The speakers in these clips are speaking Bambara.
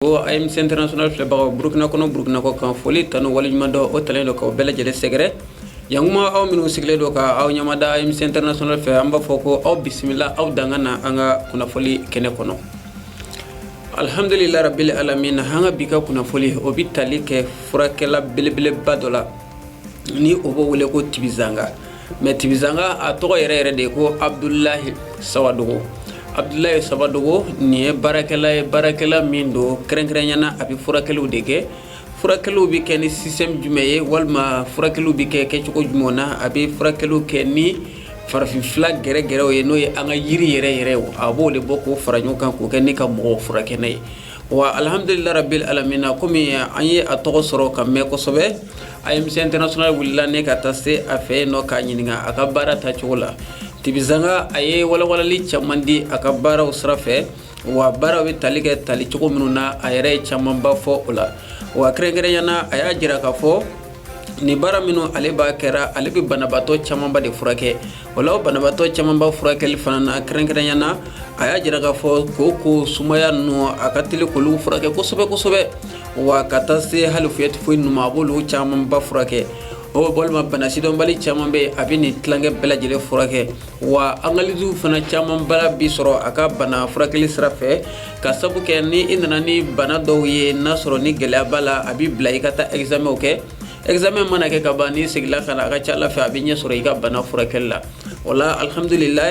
o AMC international filɛbagaw burukina kɔnɔ burukina kɔ kan foli tanu waleɲumandɔn o talen don k'aw bɛɛ lajɛlen sɛgɛrɛ yan kuma aw minnu sigilen don ka aw ɲamada AMC international fɛ an b'a fɔ ko aw bisimila aw danga na an ka kunnafoli kɛnɛ kɔnɔ alhamdulilayi rabili alamin an ka bi ka kunnafoli o bi tali kɛ furakɛla belebeleba dɔ la ni o b'o wele ko tibizanga mais tibizanga a tɔgɔ yɛrɛ yɛrɛ de ko abudulayi sawadogo abudulayi sawadogo nin ye baarakɛla ye baarakɛla min don kɛrɛnkɛrɛnyana a bɛ furakɛliw de kɛ furakɛliw bɛ kɛ ni système jumɛn ye walima furakɛliw bɛ kɛ kɛcogo jumɛn na a bɛ furakɛliw kɛ ni farafin fila gɛrɛgɛrɛw ye n'o ye an ka yiri yɛrɛ yɛrɛ a b'o de bɔ k'o fara ɲɔgɔn kan k'o kɛ ni ka mɔgɔw furakɛ n'a ye Wa alihamdulila rabili alamina kɔmi an ye a tɔgɔ sɔrɔ ka mɛn kosɛbɛ AMC international wulila ne ka taa se a fɛ yen nɔ k'a ɲininka a ka baara ta cogo la tibizanga a ye walawalali caman di a ka baaraw sira fɛ wa baaraw bɛ tali kɛ tali cogo minnu na a yɛrɛ ye camanba fɔ o la wa kɛrɛnkɛrɛnyana a y'a jira k'a fɔ nin baara minnu ale b'a kɛra ale bɛ banabaatɔ camanba de furakɛ o la o banabaatɔ camanba furakɛli fana na kɛrɛnkɛrɛnyana a y'a jira k'a fɔ ko ko sumaya ninnu a ka teli k'olu furakɛ kosɛbɛ kosɛbɛ wa ka taa se hali fièvre typhoïde ninnu ma a b'olu camanba furakɛ o walima bana sidɔnbali caman bɛ yen a bɛ nin tilankɛ bɛɛ lajɛlen furakɛ wa analysew fana caman b'a la bi sɔrɔ a ka bana furakɛli sira fɛ ka sabu kɛ ni i nana ni bana dɔw ye n'a sɔrɔ ni gɛlɛya b'a la a b'i bila i ka taa examenw kɛ examen mana kɛ ka ban ni i segila ka na a ka ca la fɛ a bɛ ɲɛ sɔrɔ i ka bana furakɛli la wala alihamdulila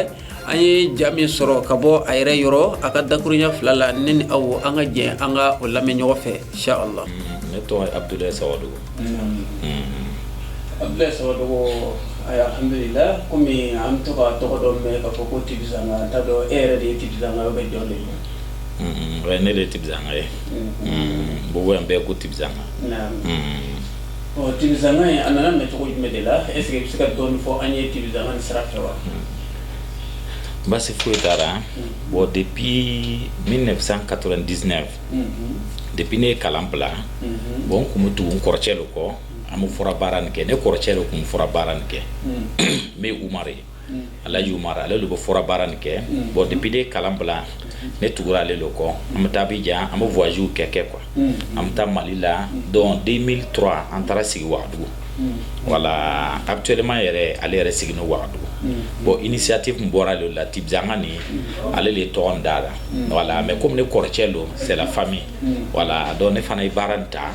an ye ja min sɔrɔ ka bɔ a yɛrɛ yɔrɔ a ka dakuruɲa fila la ne ni aw an ka jɛ an ka o lamɛn ɲɔgɔn fɛ inshallah ne tɔgɔ A bɛ sɔrɔ dɔgɔ ahamdulila kɔmi an bɛ to tɔgɔ dɔ mɛn k kaa fɔ ko ti ta dɔn e yɛrɛ de ye ti bɛ jɔn de ye ne de ye tizanka ye bo yan bɛɛ ko tibiz ɔ tizka ye a nana mɛ cogo jumɛn de la ese bɛ se ka dɔn fɔ an ye tibiz ni sira fɛ wa baasi foyi taara bɔn de bi min na bɛ ka dizsɛnɛ depuis ne ye kalan bila bon n kun bɛ tugu n kɔrɔcɛ de kɔ an bɛ fura baara nin kɛ ne kɔrɔcɛ de kun bɛ fura baara nin kɛ n bɛ umari alaji umari ale de bɛ fura baara nin kɛ bon depuis ne ye kalan bila ne tugura ale de kɔ an bɛ taa abidjan an bɛ voyagew kɛ quoi an bɛ taa mali la donc deux mille trois an taara sigi wagadugu voilà actuellement yɛrɛ ale yɛrɛ sigin no Wagadugu bon initiative min bɔra ale la Tibizanga nin ale de ye tɔgɔ in da la voilà mais comme ne kɔrɔcɛ don c'est la famille voilà donc ne fana ye baara in ta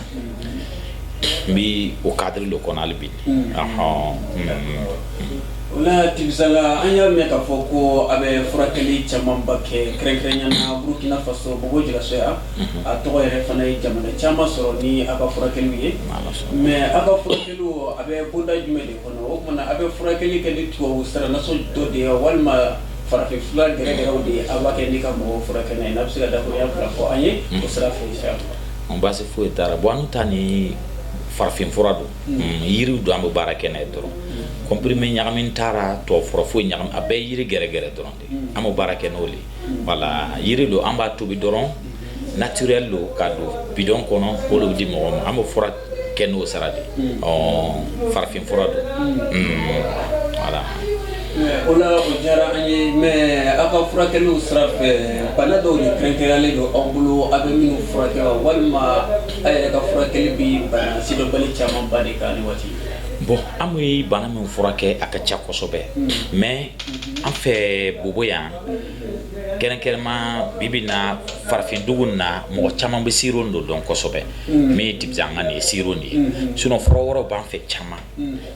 n bi o cadre de kɔnɔ hali bi ɔhɔn o la Tibizanga an y'a mɛn k'a fɔ ko a bɛ furakɛli camanba kɛ kɛrɛnkɛrɛnyana Burukina Faso Bobo Dioulasso yan a tɔgɔ yɛrɛ fana ye jamana caman sɔrɔ ni a ka furakɛliw ye mais a ka furakɛliw a bɛ boloda jumɛn de kɔnɔ o tuma a bɛ furakɛli kɛ ni tubabu saranaso dɔ de ye walima farafin fura gɛrɛgɛrɛw de ye a b'a kɛ ka mɔgɔw furakɛ n'a ye a bɛ se ka da fila fɔ an ye o sira fɛ basi foyi t'a ra bon an ta nin farafin fura don yiri don an bɛ baara kɛ n'a ye dɔrɔn comprimé ɲagami t'a ra tubabu fura foyi ɲagami a bɛɛ yiri gɛrɛgɛrɛ dɔrɔn an bɛ baara kɛ n'o de ye voilà yiri don an b'a tobi dɔrɔn naturel don ka don bidɔn kɔnɔ o de bɛ di mɔgɔ ma an bɛ furakɛ n'o sira de ye ɔ farafin fura don voilà o la o diyara an ye mais aw ka furakɛliw sira fɛ bana dɔw de kɛrɛnkɛrɛnlen don aw bolo aw bɛ minnu furakɛ wa walima aw yɛrɛ ka furakɛli bɛ bana sidɔnbali camanba de kan nin waati bon an bɛ bana min furakɛ a ka ca kosɛbɛ mais an fɛ bobo yan kɛrɛnkɛrɛnma bi bi na farafindugu na mɔgɔ caman bɛ siro don dɔn kosɛbɛ min ye di an ka nin ye siro de ye sinon fura wɛrɛw b'an fɛ caman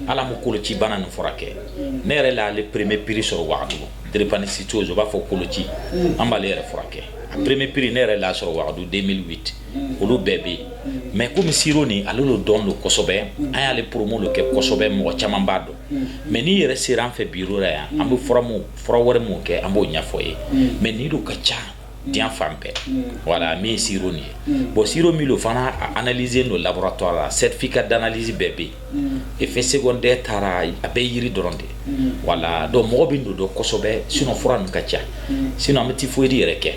ala ma koloci bana nin furakɛ ne yɛrɛ la ale premier prix sɔrɔ wagadugu drépanocytose o b'a fɔ koloci an b'ale yɛrɛ furakɛ a premier prix ne yɛrɛ la sɔrɔ wagadugu deux mille huit olu bɛɛ bɛ yen mais kɔmi siro nin ale lo dɔn don kosɛbɛ an y'ale promo lo kɛ kosɛbɛ mɔgɔ caman b'a dɔn mɛ n'i yɛrɛ sera an fɛ bi la yan an bɛ fura wɛrɛ min kɛ an b'o ɲɛfɔ ye mɛ n'i don ka ca di fan bɛɛ wala min si nin ye bɔn si min don fana anze don labɔra tɔgɔ la sɛfin ka dananalisi bɛɛ bɛ yen e fɛ se tɛ taara a bɛ yiri dɔrɔn de wala dɔn mɔgɔ bɛ don dɔnsɛbɛ sinɔnf ka ca sin an bɛ tɛ foyi yɛrɛ kɛ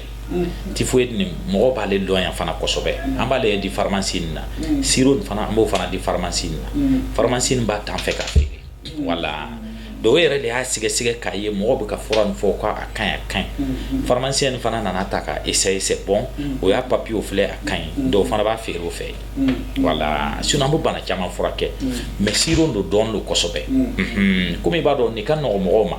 typhoïde nin mɔgɔ b'ale dɔn yan fana kosɛbɛ an b'ale di faramasi na siro fana an b'o fana di faramasi na faramasi b'a ta an fɛ ka feere voilà dɔw yɛrɛ de y'a sɛgɛsɛgɛ k'a ye mɔgɔ bɛ ka fura min fɔ k'a ka ɲi ka ɲi faramasi in fana nana ta ka essayer c'est bon o y'a papiyew filɛ a ka ɲi dɔw fana b'a feere o fɛ yen voilà sinon an bɛ bana caman furakɛ mais siro don dɔn don kosɛbɛ kɔmi i b'a dɔn n'i ka mɔgɔw ma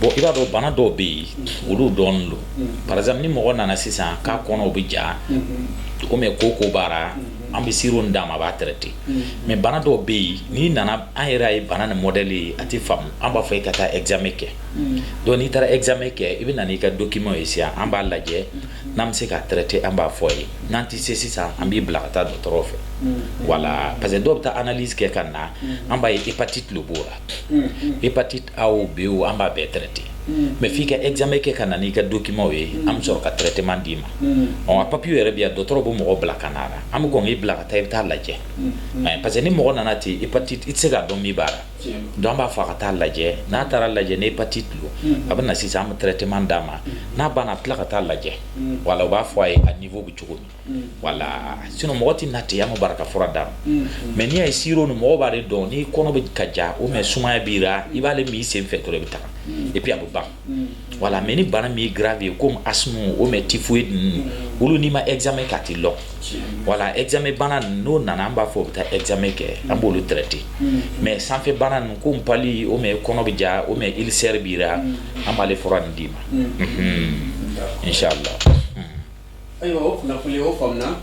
bon i b'a dɔn bana dɔw bɛ yen olu dɔn don par exemple ni mɔgɔ nana sisan k'a kɔnɔ o bɛ ja ko kooko b'a ra an bɛ siro d'a ma a b'a traiter mais bana dɔw bɛ yen n'i nana an yɛrɛ ye bana nin modèle ye a tɛ faamu an b'a fɔ i ka taa examen kɛ donc n'i taara examen kɛ i bɛ na n'i ka document ye sisan an b'a lajɛ n'an bɛ se ka traiter an b'a fɔ i ye n'an tɛ se sisan an b'i bila ka taa dɔ dɔgɔtɔrɔw fɛ voilà parce que dɔw bɛ taa analyse kɛ ka na an b'a ye hépatite lo b'o la hépatite A o B o an b'a bɛɛ traiter mais f'i ka examen kɛ ka na n'i ka documentw ye an bɛ sɔrɔ ka traitement d'i ma a papier yɛrɛ bɛ yan dɔgɔtɔrɔ bɛ mɔgɔ bila ka na an bɛ kɔn k'i bila ka taa i bɛ taa lajɛ parce que ni mɔgɔ nana ten hépatite i tɛ se k'a dɔn min b'a la donc an b'a fɔ a ka taa lajɛ n'a taara lajɛ ni hépatite don a bɛ na sisan an bɛ traitement d'a ma n'a banna a bɛ tila ka taa lajɛ voilà u b'a fɔ a ye a niveau bɛ cogo min wala sinon mɔgɔ tɛ na ten an ka bara ka fura d'a ma mais n'i y'a ye sirop nin mɔgɔ b'ale dɔn n'i kɔnɔ bɛ ka ja ou bien sumaya b'i ra i b'ale min i sen fɛ dɔrɔn i bɛ taga et puis a bɛ ban wala mais ni bana min ye grave ye comme asthme ou bien typhoïde ninnu olu n'i ma examen kɛ a tɛ lɔn wala examen bana ninnu n'o nana an b'a fɔ u bɛ taa examen kɛ an b'olu traiter mais sanfɛ bana ninnu comme palu ou bien kɔnɔ bɛ ja ou bien ulcère b'i ra an b'ale fura nin d'i ma inchallah Ayiwa o kunnafoni o faamuna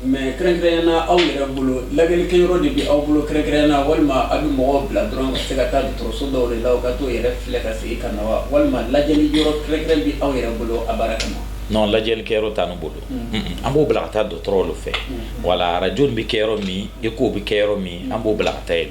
mais kɛrɛnkɛrɛnya na aw yɛrɛ bolo lajɛli kɛ yɔrɔ de bɛ aw bolo kɛrɛnkɛrɛnya na walima aw bɛ mɔgɔw bila dɔrɔn ka se ka taa dɔgɔtɔrɔso dɔw de la u ka t'u yɛrɛ filɛ ka segin ka na wa walima lajɛli yɔrɔ kɛrɛnkɛrɛn bɛ aw yɛrɛ bolo a baara kama non lajɛli kɛ yɔrɔ t'an bolo an b'o bila ka taa dɔgɔtɔrɔw fɛ wala arajo bɛ kɛ yɔrɔ min écho bɛ kɛ yɔrɔ min an b'o bila ka taa yen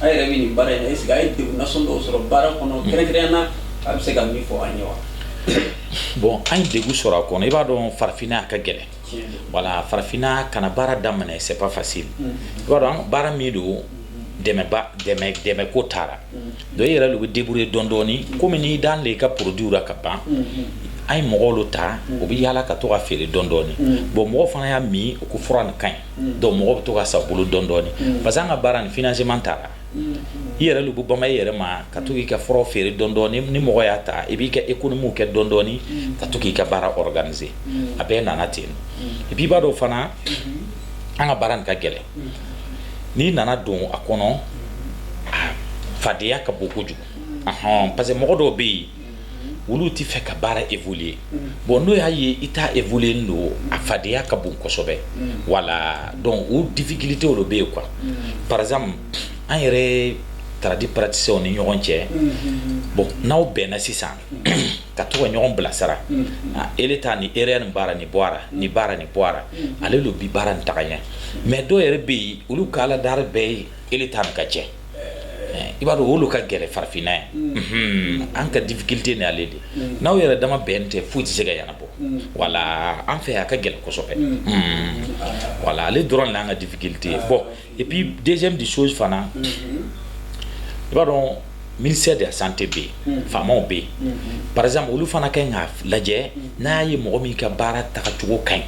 A yɛrɛ bɛ nin baara in na est-ce que a ye degun nasɔn dɔw sɔrɔ baara kɔnɔ kɛrɛnkɛrɛnya na a bɛ se ka min fɔ an ye wa bon an ye degun sɔrɔ a kɔnɔ i b'a dɔn farafinna a ka gɛlɛn wala farafinna ka na baara daminɛ c'est pas facile i b'a dɔn baara min don dɛmɛ ko t'a ra donc i yɛrɛ de bɛ débrouiller dɔɔni dɔɔni kɔmi n'i dan de i ka produit la ka ban an ye mɔgɔw ta u bɛ yaala ka to ka feere dɔɔni dɔɔni bon mɔgɔ fana y'a min u ko fura nin ka ɲi donc mɔgɔ bɛ to ka san bolo dɔɔni dɔɔni parce que an ka baara nin financement t'a la i yɛrɛ de bɛ bama i yɛrɛ ma ka to k'i ka furaw feere dɔɔni dɔɔni ni mɔgɔ y'a ta i b'i ka économie kɛ dɔɔni dɔɔni ka to k'i ka baara organiser a bɛɛ nana ten et puis i b'a dɔn fana an ka baara nin ka gɛlɛn n'i nana don a kɔnɔ fadenya ka bon kojugu parce que mɔgɔ dɔw bɛ yen olu tɛ fɛ ka baara évoluer bon n'o y'a ye i ta évoluer don a fadenya ka bon kosɛbɛ wala donc o difficulté o de bɛ yen quoi par exemple an yɛrɛ tradi praticiens ni ɲɔgɔn cɛ bon n'aw bɛnna sisan ka to ɲɔgɔn bilasira ele ta nin erreur nin b'a ra nin bɔ a ra nin b'a ra nin bɔ a ra ale lo bi baara nin taga ɲɛ mais dɔw yɛrɛ bɛ yen olu ka Ala dari bɛɛ ye ele ta nin ka cɛn i b'a dɔn o lo ka gɛlɛn farafinna ye an ka difficulté ni ale de n'aw yɛrɛ dama bɛn tɛ foyi tɛ se ka ɲɛnabɔ wala an fɛ yan a ka gɛlɛn kosɛbɛ wala ale dɔrɔn de y'an ka difficulté ye bon et puis deuxième des choses fana i b'a dɔn ministère de la santé bɛ yen faamaw bɛ yen par exemple olu fana ka ɲi k'a lajɛ n'a ye mɔgɔ min ka baara tagacogo ka ɲi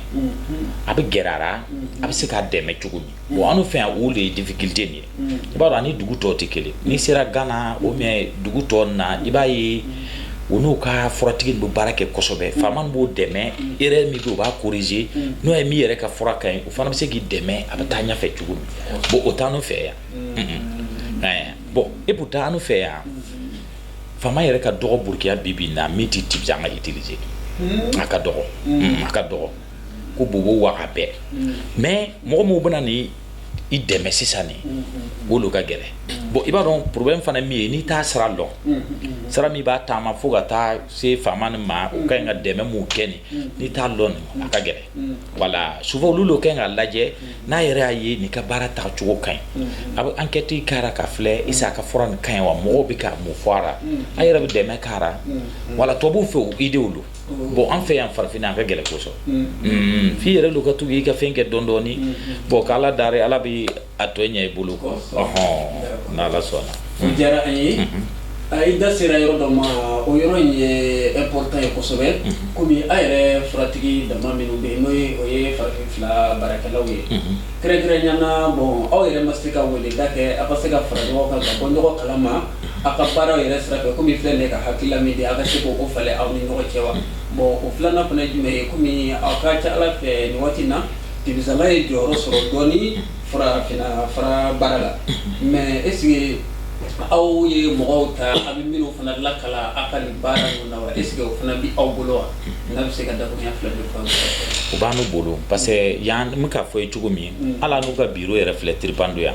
a bɛ gɛrɛ a ra a bɛ se k'a dɛmɛ cogo min bon an fɛ yan o de ye difficulté nin ye i b'a dɔn ani dugu tɔw tɛ kelen n'i sera Ghana ou bien dugu tɔw na i b'a ye u n'u ka furatigi bɛ baara kɛ kosɛbɛ faama b'o dɛmɛ erreur min bɛ yen u b'a corriger n'o ye min yɛrɛ ka fura ka ɲi o fana bɛ se k'i dɛmɛ a bɛ taa ɲɛfɛ cogo min bon o t'an fɛ yan bon et pourtant an fɛ yan faama yɛrɛ ka dɔgɔ Burkina bi bi na min tɛ tɛ an ka utiliser a ka dɔgɔ a ka dɔgɔ quoi Bobo Ouaga bɛɛ mm. mais mɔgɔ minnu bɛna ni i dɛmɛ sisan nin mm, mm, o lo ka gɛlɛ bon i b'a dɔn problème fana min ye n'i t'a sira dɔn sira min b'a taama fo ka taa se faama nin ma u ka ɲi ka dɛmɛ minnu kɛ nin n'i t'a dɔn nin a ka gɛlɛ voilà souvent olu le ka ɲi ka lajɛ n'a yɛrɛ y'a ye nin ka baara taacogo ka ɲi a bɛ enquête kɛra ka filɛ est-ce que a ka fura nin ka ɲi wa mɔgɔw bɛ ka mun fɔ a la a yɛrɛ bɛ dɛmɛ k'a la voilà tubabuw fɛ o idéw lo bon an fɛ yan farafinna a ka gɛlɛn quoi sauf i yɛrɛ lo ka tugu i ka fɛn kɛ dɔɔni dɔɔni bon k' ala dari ala bɛ a tɔ ɲɛ i bolo quoi hɔn n' ala sɔnna a diyara an ye a i da sera yɔrɔ dɔ ma o yɔrɔ in ye important ye kosɛbɛ kɔmi a yɛrɛ furatigi dama minnu bɛ yen n'o ye o ye farafin fila baarakɛlaw ye kɛrɛnkɛrɛnnenya na bon aw yɛrɛ ma se ka weleda kɛ aw ka se ka fara ɲɔgɔn kan ka bɔ ɲɔgɔn kalama aw ka baaraw yɛrɛ sira fɛ kɔmi filɛ de ka hakilila min di aw ka se k' o falen aw ni ɲɔgɔn cɛ wa bon o filanan fana ye jumɛn ye kɔmi aw ka ca ala fɛ nin waati in na debisala ye jɔyɔrɔ sɔrɔ dɔɔni farafin fura baara la mais est-ce que aw ye mɔgɔw ta a bɛ minnu fana lakalan aw ka nin baara ninnu na wa est-ce que o fana bɛ aw bolo wa n'a bɛ se ka dakuruɲa fila de fɔ o b'an bolo parce que yan n bɛ k'a fɔ i ye cogo min ala n'u ka bureau yɛrɛ filɛ tiripdo yan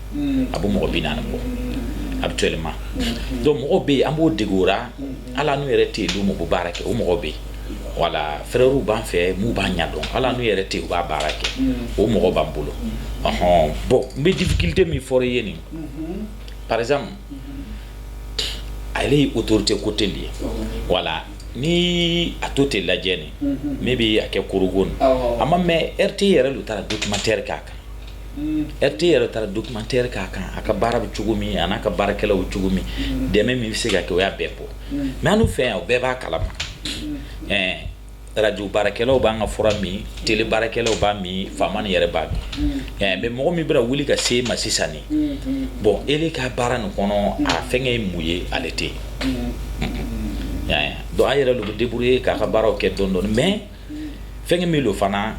a bɛ mɔgɔ bi naani bɔ habituellement donc mɔgɔ bɛ yen an b'o dege la ala n'u yɛrɛ tɛ yen don min bɛ baara kɛ o mɔgɔ bɛ yen voilà frèrew b'an fɛ minnu b'a ɲɛdɔn ala n'u yɛrɛ tɛ yen u b'a baara kɛ o mɔgɔ b'an bolo ɔɔn bon n bɛ difficulté min fɔra i ye nin par exemple ale ye autorité côté le ye voilà ni a total lajɛ nin min bɛ a kɛ Korhogo nin a ma mɛ RTI yɛrɛ lu taara documentaire k'a kan RTI yɛrɛ taara documentaire k'a kan a ka baara bɛ cogo min a n'a ka baarakɛlaw bɛ cogo min dɛmɛ min bɛ se ka kɛ o y'a bɛɛ bɔ mais an fɛ yan o bɛɛ b'a kalama ɛɛ radio baarakɛlaw b'an ka fura min télé baarakɛlaw b'a min faama nin yɛrɛ b'a min mais mɔgɔ min bɛ wuli ka se i ma sisan bon e ka baara nin kɔnɔ a fɛnkɛ ye mun ye ale tɛ yen donc a yɛrɛ lo bɛ débrouiller k'a ka baaraw kɛ dɔɔni dɔɔni fɛn min don fana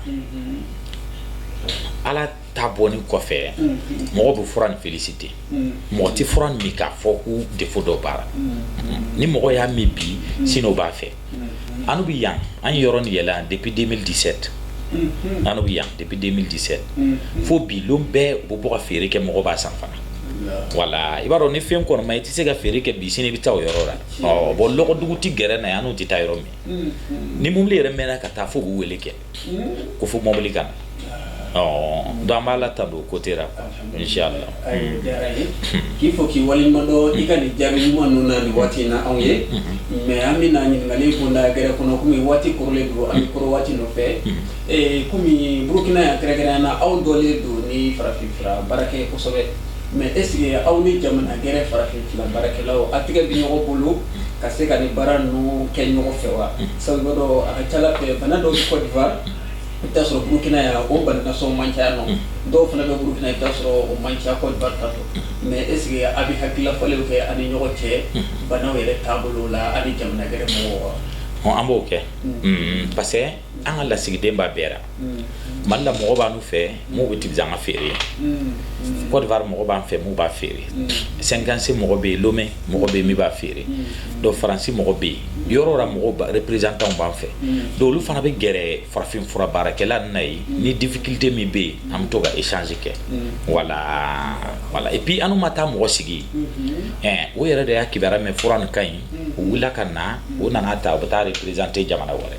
ala ta bɔni kɔfɛ mɔgɔ bɛ fura nin féliciter mɔgɔ tɛ fura min k'a fɔ ko défaut dɔ b'a la ni mɔgɔ y'a min bi sini o b'a fɛ an bɛ yan an yɔrɔ ni yɛlɛ an depuis deux mille dix-sept an bɛ yan depuis deux mille dix-sept fo bi don bɛɛ u bɛ bɔ ka feere kɛ mɔgɔ b'a san fana voilà i b'a dɔn ni fɛn kɔni man ɲi i tɛ se ka feere kɛ bi sini i bɛ taa o yɔrɔ la bon dɔgɔdugu tɛ gɛrɛ na yan n'u tɛ taa yɔrɔ min ni mobili yɛrɛ mɛnna ka taa fo k'u weele kɛ ko fo mobili ka na donc an b'ala tando côté la inchallah k'i fo k'i waleɲumandɔn i ka nin jaabi ɲuman ninnu na nin waati in na anw ye mais an bɛ na ɲininkali bonda gɛrɛ kɔnɔ kɔmi waati kɔrɔlen don an bɛ kɔrɔ waati nɔfɛ kɔmi burukina yan kɛrɛnkɛrɛnnenya na aw dɔnlen don ni farafinfura baara kɛ kosɛbɛ Mais est-ce que aw ni jamana gɛrɛ farafinfura baarakɛlaw a tɛgɛ bɛ ɲɔgɔn bolo ka se ka ni baara ninnu kɛ ɲɔgɔn fɛ wa sabu i b'a dɔn a ka c'a la fɛ bana dɔw bɛ Côte d'Ivoire i bɛ t'a sɔrɔ burukina yan o bana sugu man ca yan nɔ dɔw fana bɛ burukina i bɛ t'a sɔrɔ o man ca Côte d'Ivoire mais est-ce que a bɛ hakilila falen kɛ a ni ɲɔgɔn cɛ bana yɛrɛ taabolo la a ni jamana gɛrɛ mɔgɔw wa an b'o kɛ parce que an ka lasigiden b'a bɛɛ mali la mɔgɔ b'an fɛ min bɛ tɛ an ka feere Côte d'Ivoire mɔgɔ b'an fɛ min b'a feere Cinkansé mɔgɔ bɛ yen Lomé mɔgɔ bɛ yen min b'a feere donc faransi mɔgɔ bɛ yen yɔrɔ mɔgɔ représentant b'an fɛ donc olu fana bɛ gɛrɛ farafin fura baarakɛla na ye ni difficulté min bɛ yen an bɛ to ka échange kɛ voilà et puis an ma taa mɔgɔ sigi ɛ o yɛrɛ de y'a kibaru mɛn fura nin ka ɲi u wulila ka na u nana ta u bɛ taa représenter jamana wɛrɛ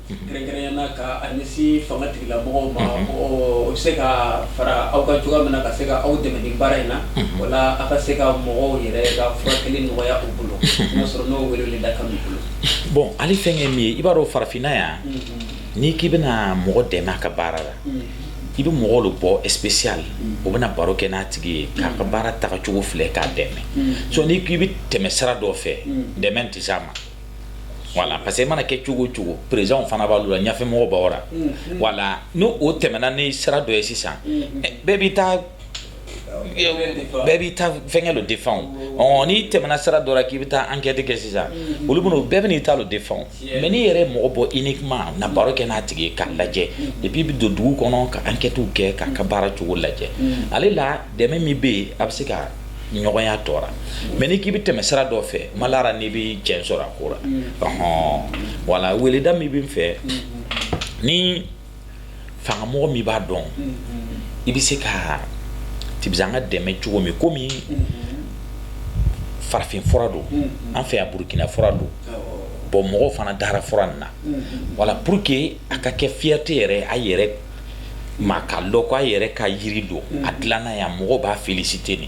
Kɛrɛnkɛrɛn na k'a ɲɛsin fanga tigilamɔgɔw ma u bɛ se ka fara aw kan cogoya min na ka se ka aw dɛmɛ ni baara in na wala aw ka se ka mɔgɔw yɛrɛ ka furakɛli nɔgɔya u bolo n'a sɔrɔ n'o weele da kan b'i bolo bon ali fɛn min ye i b'a dɔn farafinna yan n'i k'i bɛna mɔgɔ dɛmɛ a ka baara la i bɛ mɔgɔw de bɔ spécial o bɛna baro kɛ n'a tigi ye k'a ka baara tagacogo filɛ k'a dɛmɛ so n'i k'i bɛ tɛmɛ sira dɔ fɛ dɛmɛ tɛ s'a ma voilà parce que e mana kɛ cogo o cogo président fana b'a la ɲɛfɛmɔgɔ b'a la voilà n'o tɛmɛna ni sira dɔ ye sisan bɛɛ b'i ta bɛɛ b'i ta fɛnkɛ don défendre n'i tɛmɛna sira dɔ k'i bɛ taa enquête kɛ sisan olu bɛ bɛɛ b'i ta don défendre mais n'i yɛrɛ mɔgɔ bɔ uniquement na baro kɛ n'a tigi ye k'a lajɛ et puis i bɛ don dugu kɔnɔ ka enquête kɛ k'a ka baara cogo lajɛ ale la dɛmɛ min bɛ yen a bɛ se ka ɲɔgɔnya tɔɔrɔ mais n'i k'i bɛ tɛmɛ sira dɔ fɛ malara n'i bɛ cɛn sɔrɔ a ko la voilà weleda min bɛ n fɛ ni fangamɔgɔ min b'a dɔn i bɛ se ka tibizanga dɛmɛ cogo min komi farafin fura don an fɛ yan burukina fura don bon mɔgɔw fana dara fura nin na voilà pour que a ka kɛ fierté yɛrɛ a yɛrɛ ka dɔn k'a yɛrɛ ka jiri don a dilanna yan mɔgɔw b'a féliciter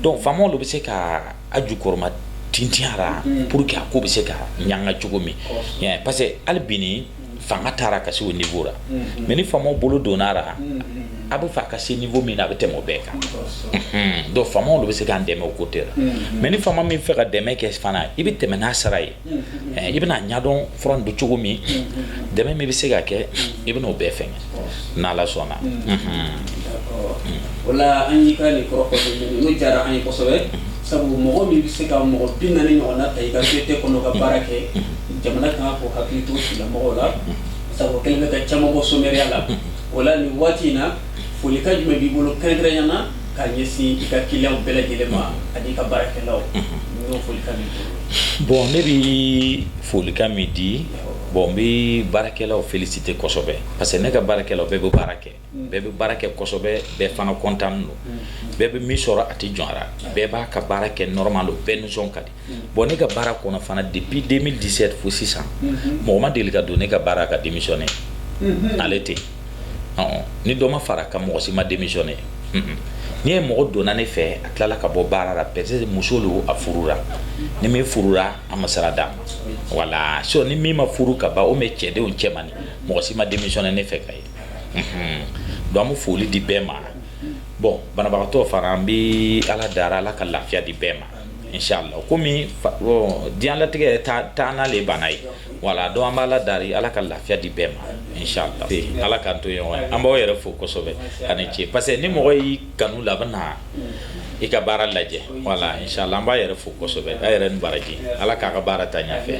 donc faamaw de bɛ se ka a jukɔrɔma tintinyara pour que a ko bɛ se ka ɲaga cogo min parce que hali bi ni fanga taara ka se o niveau la mais ni faamaw bolo donna a ra a bɛ fɛ a ka se niveau min na a bɛ tɛmɛ o bɛɛ kan donc faamaw de bɛ se k'an dɛmɛ o côté la mais ni faama min fɛ ka dɛmɛ kɛ fana i bɛ tɛmɛ n'a sara ye I bɛna ɲɛdɔn fura don cogo min dɛmɛ min bɛ se ka kɛ i bɛna o bɛɛ fɛnkɛ n'ala sɔnna o la an y'i ka nin kɔrɔ diyara an ye kosɛbɛ sabu mɔgɔ min bɛ se ka mɔgɔ binaani ɲɔgɔn ta i ka société kɔnɔ ka baara kɛ jamana kan k'o hakili to sigida mɔgɔw la sabu kɛlen bɛ ka caman bɔ somɛriya la o la nin waati in na folikan jumɛn b'i bolo kɛrɛnkɛrɛnnenya na ka ɲɛsin i ka client bɛɛ lajɛlen ma ani i ka baarakɛlaw foli ka Bon ne bɛ folikan min di bon n bɛ baarakɛlaw féliciter kosɛbɛ parce que ne ka baarakɛlaw bɛɛ bɛ baara kɛ bɛɛ bɛ baara kɛ kosɛbɛ bɛɛ fana content don bɛɛ bɛ min sɔrɔ a tɛ jɔn a ra bɛɛ b'a ka baara kɛ normal don bɛɛ nisɔn ka di bon ne ka baara kɔnɔ fana depuis deux mille dix-sept fo sisan mɔgɔ ma deli ka don ne ka baara ka démissionner ale tɛ ni dɔ ma fara kan mɔgɔ si ma démissionner n'i ye mɔgɔ donna ne fɛ a tilala ka bɔ baara la peut-être muso don a furula ni min furula a ma sara d'a ma voilà so ni min ma furu ka ban o mais cɛdenw cɛ ma mɔgɔ si ma démissionner ne fɛ ka ye donc an bɛ foli di bɛɛ ma bon banabagatɔ fana an bɛ ala dari ala ka lafiya di bɛɛ ma inshallah komi diɲɛlatigɛ taa taa n'ale bana ye Voilà donc an b'ala dari ala ka lafiya di bɛɛ ma inshallah ala k'an to ɲɔgɔn ye an b'aw yɛrɛ fo kosɛbɛ a ni ce parce que ni mɔgɔ y'i kanu la a bɛ na i ka baara lajɛ voilà inshallah an b'a yɛrɛ fo kosɛbɛ a yɛrɛ ni baraji ala k'a ka baara taa ɲɛfɛ